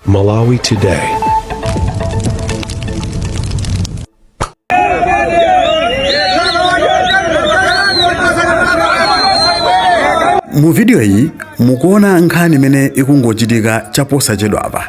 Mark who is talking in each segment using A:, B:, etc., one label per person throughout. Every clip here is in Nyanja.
A: Malawi Today.
B: mu video iyi mukuona nkhani imene ikungochitika chaposachedwapa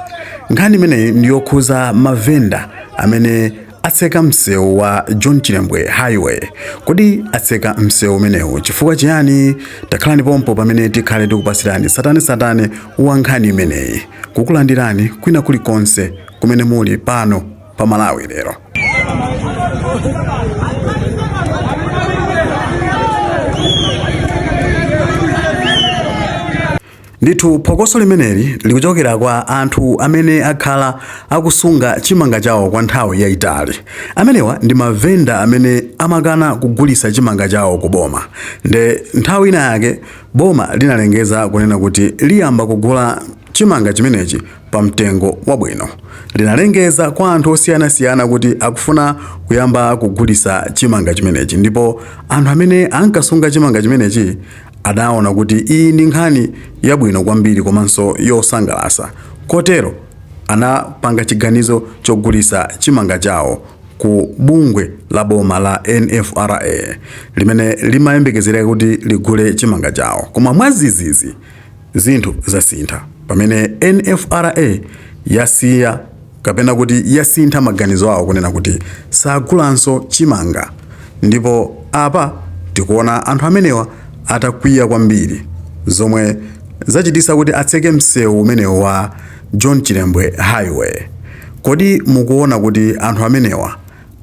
B: nkhani imeneyi ndiyokhuza mavenda amene atseka msewu wa John Chilembwe Highway. Kodi atseka msewu umenewu chifukwa chiyani? Takhalani pompo pamene tikhale tikukupasirani satane satane wa nkhani imeneyi, kukulandirani kwina kulikonse kumene muli pano pa Malawi lero. Ndithu phokoso limeneli likuchokera kwa anthu amene akhala akusunga chimanga chawo kwa nthawi yayitali. Amenewa ndi mavenda amene amakana kugulitsa chimanga chawo ku boma. Nde nthawi ina yake boma linalengeza kunena kuti liyamba kugula chimanga chimenechi pa mtengo wabwino. Linalengeza kwa anthu osiyanasiyana kuti akufuna kuyamba kugulisa chimanga chimenechi ndipo anthu amene ankasunga chimanga chimenechi Adaona kuti iyi ndi nkhani yabwino kwambiri komanso yosangalasa kotero anapanga chiganizo chogulisa chimanga chawo ku bungwe la boma la NFRA limene limayembekezereka kuti ligule chimanga chawo koma mwazizizi zinthu zasintha pamene NFRA yasiya kapena kuti yasintha maganizo awo kunena kuti sagulanso chimanga ndipo apa tikuona anthu amenewa atakwiya kwambiri zomwe zachitisa kuti atseke msewu umenewu wa John Chilembwe Highway. Kodi mukuona kuti anthu amenewa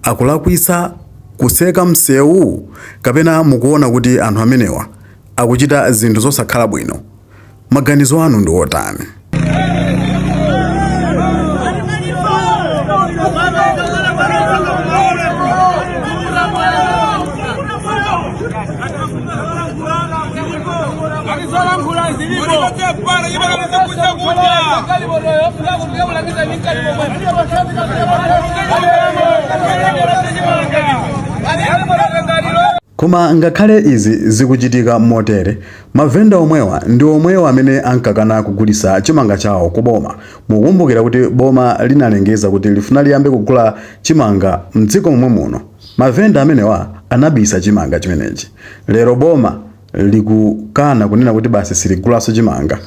B: akulakwisa kuseka msewu kapena mukuona kuti anthu amenewa akuchita zinthu zosakhala bwino? Maganizo anu ndi otani? Koma ngakhale izi zikuchitika motere, Mavenda omwewa ndi omwewa amene ankakana kugulisa chimanga chawo ku boma. Mukumbukira kuti boma linalengeza kuti lifuna liyambe kugula chimanga mdziko momwe muno? Mavenda amenewa anabisa chimanga chimenechi. Lero boma likukana kunena kuti basi siligulaso chimanga.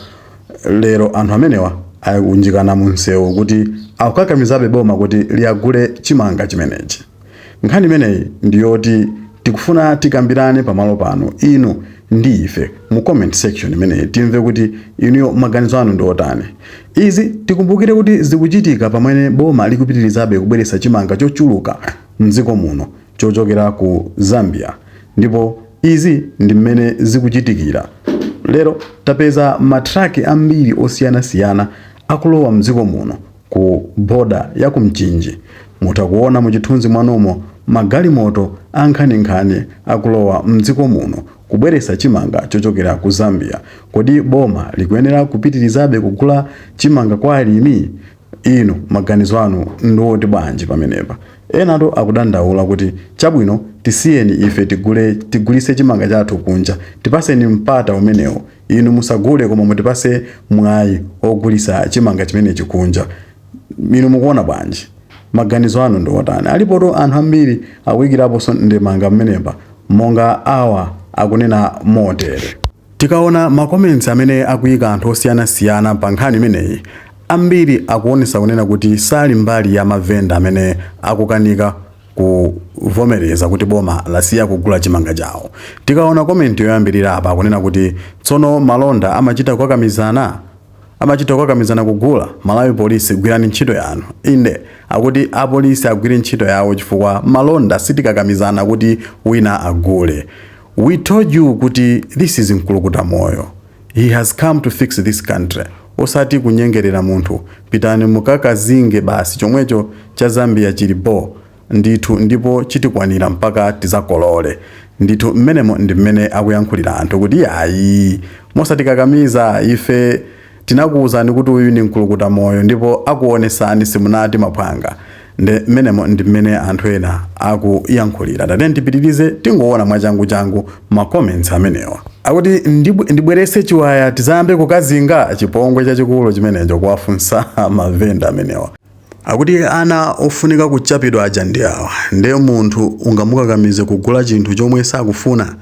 B: Lero anthu amenewa akunjikana mu msewu kuti akukakamizabe boma kuti liagule chimanga chimenechi. Nkhani imeneyi ndi yoti tikufuna tikambirane pamalo pano inu ndi ife mu comment section imeneyi timve kuti inuyo maganizo anu ndi otani. Izi tikumbukire kuti zikuchitika pamene boma likupitirizabe kubweretsa chimanga chochuluka m'dziko muno chochokera ku Zambia ndipo izi ndi mmene zikuchitikira lero tapeza ma truck ambiri osiyanasiyana akulowa m'dziko muno Ku boda ya ku Mchinji mutha kuona muchithunzi mwanomo magalimoto ankhaninkhani akulowa mdziko muno kubweresa chimanga chochokera ku Zambia. Kodi boma likuyenera kupitirizabe kugula chimanga kwa alimi? Inu maganizo anu ndi oti bwanji pamenepa? Enatu akudandaula kuti chabwino tisiyeni ife tigulise chimanga chathu kunja tipaseni mpata umenewo Inu musagule koma mutipase mwayi ogulisa chimanga chimenechi kunja. Inu mukuona bwanji? Maganizo anu ndi otani? Alipotu anthu ambiri akuikiraponso ndemanga pamenepa monga awa akunena motere. Tikaona ma comments amene akuika anthu osiyanasiyana pa nkhani imeneyi, ambiri akuonesa kunena kuti sali mbali ya ma vendor amene akukanika, kuvomereza kuti boma lasiya kugula chimanga chawo. Tikaona komenti yoyambirira apa akunena kuti tsono malonda amachita kukakamizana kugula? Malawi Police gwirani ntchito yanu. Inde, akuti apolisi agwire ntchito yawo chifukwa malonda sitikakamizana kuti wina agule. We told you kuti this is mkulukuta moyo. He has come to fix this country osati kunyengerera munthu pitani mukakazinge basi chomwecho cha Zambia chili bho ndithu ndipo chitikwanira mpaka tizakolole ndithu mmenemo ndi mmene akuyankhulira anthu kuti ayi mosatikakamiza ife tinakuwuzani kuti uyu ni mkulukuta moyo ndipo akuwonesani simunati maphwanga Nde mmenemo ndi mmene anthu ena akuyankhulira. Tatiyeni tipitirize tingoona mwachanguchangu ma comments amenewa. Akuti ndibwerese chiwaya tizayambe kukazinga? Chipongwe chachikulu chimenecho kuwafunsa ma vendor amenewa. Akuti ana ofunika kuchapidwa aja ndi awa. Nde munthu ungamukakamize kugula chinthu chomwe sakufuna?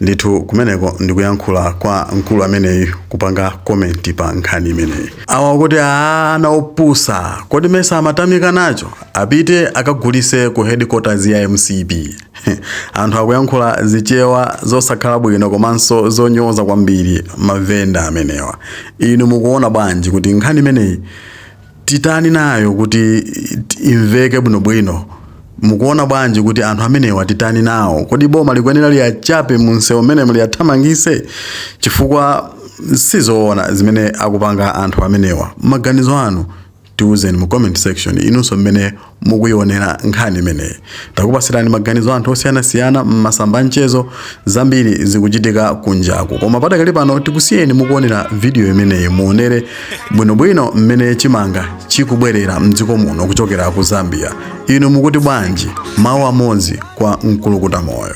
B: Ndithu kumeneko ndikuyankhula kwa mkulu ameneyu kupanga comment pa nkhani imeneyi. Awa akuti aah ana opusa kodi mesa amatamika nacho apite akagulise ku headquarters ya mcp anthu akuyankhula zichewa zosakhala bwino komanso zonyoza kwambiri mavenda amenewa inu mukuona bwanji kuti nkhani imeneyi titani nayo kuti imveke bwinobwino mukuona bwanji kuti anthu amenewa titani nawo kodi boma likuyenera liyachape mu msewu mmenemo liyathamangise chifukwa sizoona zimene akupanga anthu amenewa maganizo anu tiuzeni mu comment section inunso mmene mukuionera nkhani imeneyi takupasirani maganizo a anthu osiyanasiyana m'masamba anchezo zambiri zikuchitika kunjaku koma padakali pano tikusiyeni mukuonera vidiyo imeneyi muonere bwinobwino mmene chimanga chikubwerera mdziko muno kuchokera ku zambia inu mukuti bwanji mawu amodzi kwa mkulukuta moyo